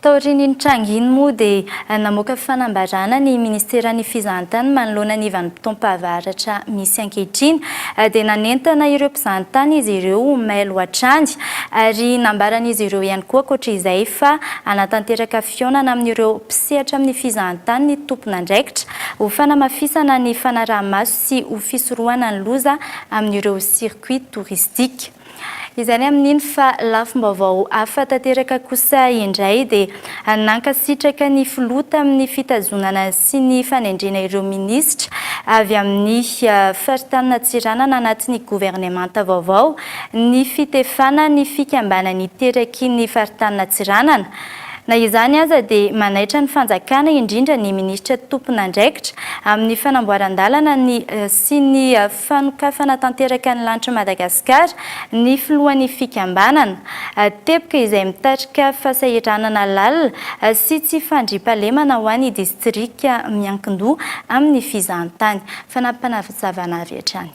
Taorian'iny tranga iny moa dia namoaka fanambarana ny ministeran'ny fizahantany manoloana ny vanim-potoam-pahavaratra misy ankehitriny dia nanentana ireo mpizahantany izy ireo ho mailo hatrany ary nambaran'izy ireo ihany koa ankoatra izay fa hanatanteraka fihaonana amin'ireo mpisehatra amin'ny fizahantany ny tompon'andraikitra ho fanamafisana ny fanaraha-maso sy ho fisorohana ny loza amin'ireo circuit touristique. Izay ny amin'iny fa lafim-baovao hafa tanteraka kosa indray dia nankasitraka ny filoha tamin'ny fitazonana sy ny fanendrena ireo minisitra avy amin'ny faritanin'Antsiranana anatin'ny governemanta vaovao ny fitefana ny fikambanany iteraky ny faritanin'Antsiranana. Na izany aza dia manaitra ny fanjakana indrindra ny minisitra tompon'andraikitra amin'ny fanamboaran-dalana ny sy ny fanokafana tanteraka ny lanitr'i Madagasikara ny filohan'ny fikambanana. Teboka izay mitarika fasahiranana lalina sy tsy fandriampahalemana ho an'ny distrika miankin-doha amin'ny fizahantany. Fanampiny avy hatrany.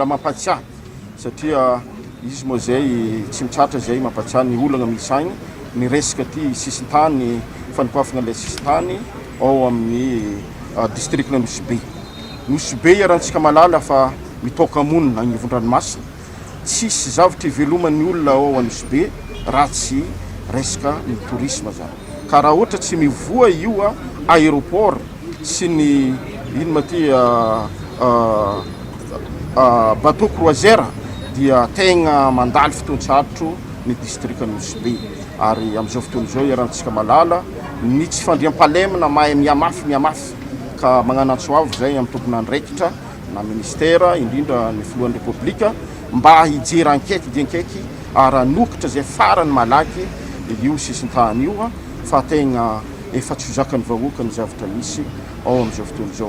Raha mampatsiahy satria izy moa izay tsy mitratra izay mampatsiahy ny olana misy agny ny resaka ty sisintany fanokafagna ilay sisintany ao amin'ny ah, districtna Nosy-Be Nosy-Be iarahantsika malala fa mitaoka monina agnivon-dranomasina tsisy zavatra iveloman'ny olona ao Anosy-Be raha tsy resaka ny tourisme zany. Ka raha ohatra tsy mivoha io aéroport sy ny ino ma ty bateau croisière dia tegna mandalo fotoan-tsarotro ny distrika Nosy Be. Ary amin'izao fotoana izao iarahantsika malala ny tsy fandriampahalemana mahay mihamafy mihamafy. Ka magnano antso avo izay amin'ny tompon'andraikitra na ministera indrindra ny filohan'ny Repoblika. Mba hijery ankaiky dia ankaiky ary hanokotra izay farany malaky io sisintany io fa tegna efa tsy ho zakan'ny vahoaka ny zavatra misy ao amin'izao fotoana izao.